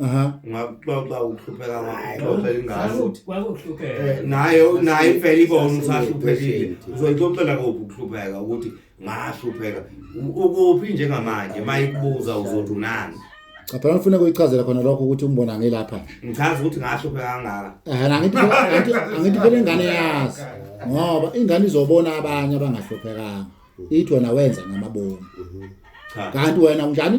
Aha. Ngakuxoxa ukuhlupheka ngakuxoxa ingane. Saluthi kwakuhlupheka. Eh, Naye naye impela ibona ukuthi Sasine ahluphekile. patient. Uzoyixoxela kuphi ukuhlupheka ukuthi ngahlupheka. U- Ukuphi njengamanje mayikubuza uzothi unani. Aphela ufuna kuyichazela khona lokho ukuthi umbona ngilapha. Ngichaza ukuthi ngahlupheka kangaka. Eh angithi angithi angithi phela ingane yazi. Ngoba ingane izobona abanye abangahluphekanga. Ithi wena wenza ngamabomu. Cha. Kanti wena unjani?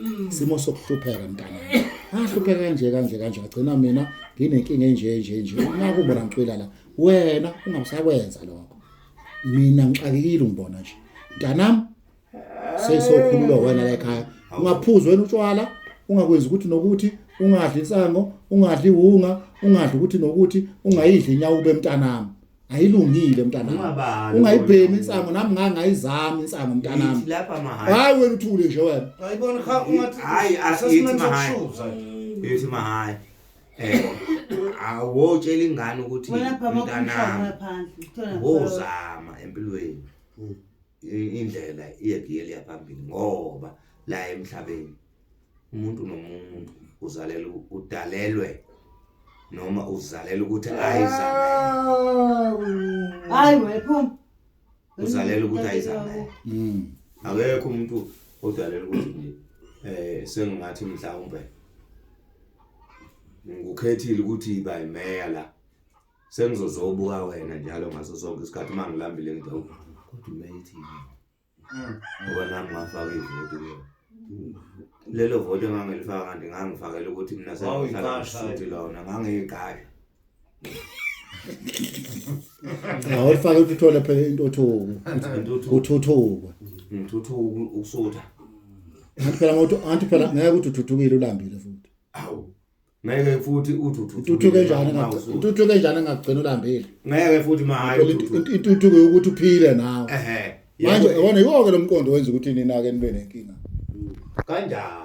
Mm. Simo sokuhlupheka mntana. Ahlupheka kanje kanje kanje agcina mina nginenkinga enje nje nje. Naku bona ngicwila la. Wena ungasakwenza lokho. Mina ngixakekile ngibona nje. Mntanam sesokhululwa wena la ekhaya. Ungaphuzi wena utshwala, ungakwenzi ukuthi nokuthi ungadli insango, ungadli wunga, ungadli ukuthi nokuthi ungayidli inyawo bemntanami. ayilungile mntanami Ungabani ungayibhemi insango nami ngangayizami insango mntanami Yithi lapha mahhayi hayi wena uthule nje wena Ayibona cha ungathi Hayi, asithi asasimane mahhayi. sokushuza. yithi mahhayi Eh, awotshela ingane ukuthi Wena phama kumshana mntanami ngaphandle. Uthola ngaphandle. wozama empilweni Mm. i- indlela iyegiye liya phambili ngoba la emhlabeni umuntu nomuntu uzalelwe udalelwe noma uzalelwe ukuthi ayizalele hayi wephuma uzalelwe ukuthi ayizalele mm. akekho umuntu odalelwe ukuthi nje eh sengathi mhlawumbe ngikukhethile ukuthi yiba imeya la sengizozobuka wena njalo ngaso sonke isikhathi uma ngilambile ngidawuba kodwa umeya ithini ngoba nami ngafaka ivoti kuyo lelo voti engangilifaka kanti ngangifakela ukuthi mina sengihlalaisuthi lona ngangiyiqasha awulifake ukuthi uthole phela intuthuko uthuthuka ngithuthuka ukusutha anti phela ngokuthi anti phela ngeke ukuthi uthuthukile ulambile futhi awu ngeke futhi uthi uthuthuke njani uthuthuke njani ngagcina ulambile ngeke futhi mahayi uthuthuke ukuthi uphile nawe ehe manje yona yonke lomqondo wenza ukuthi nina ke nibe nenkinga kanjani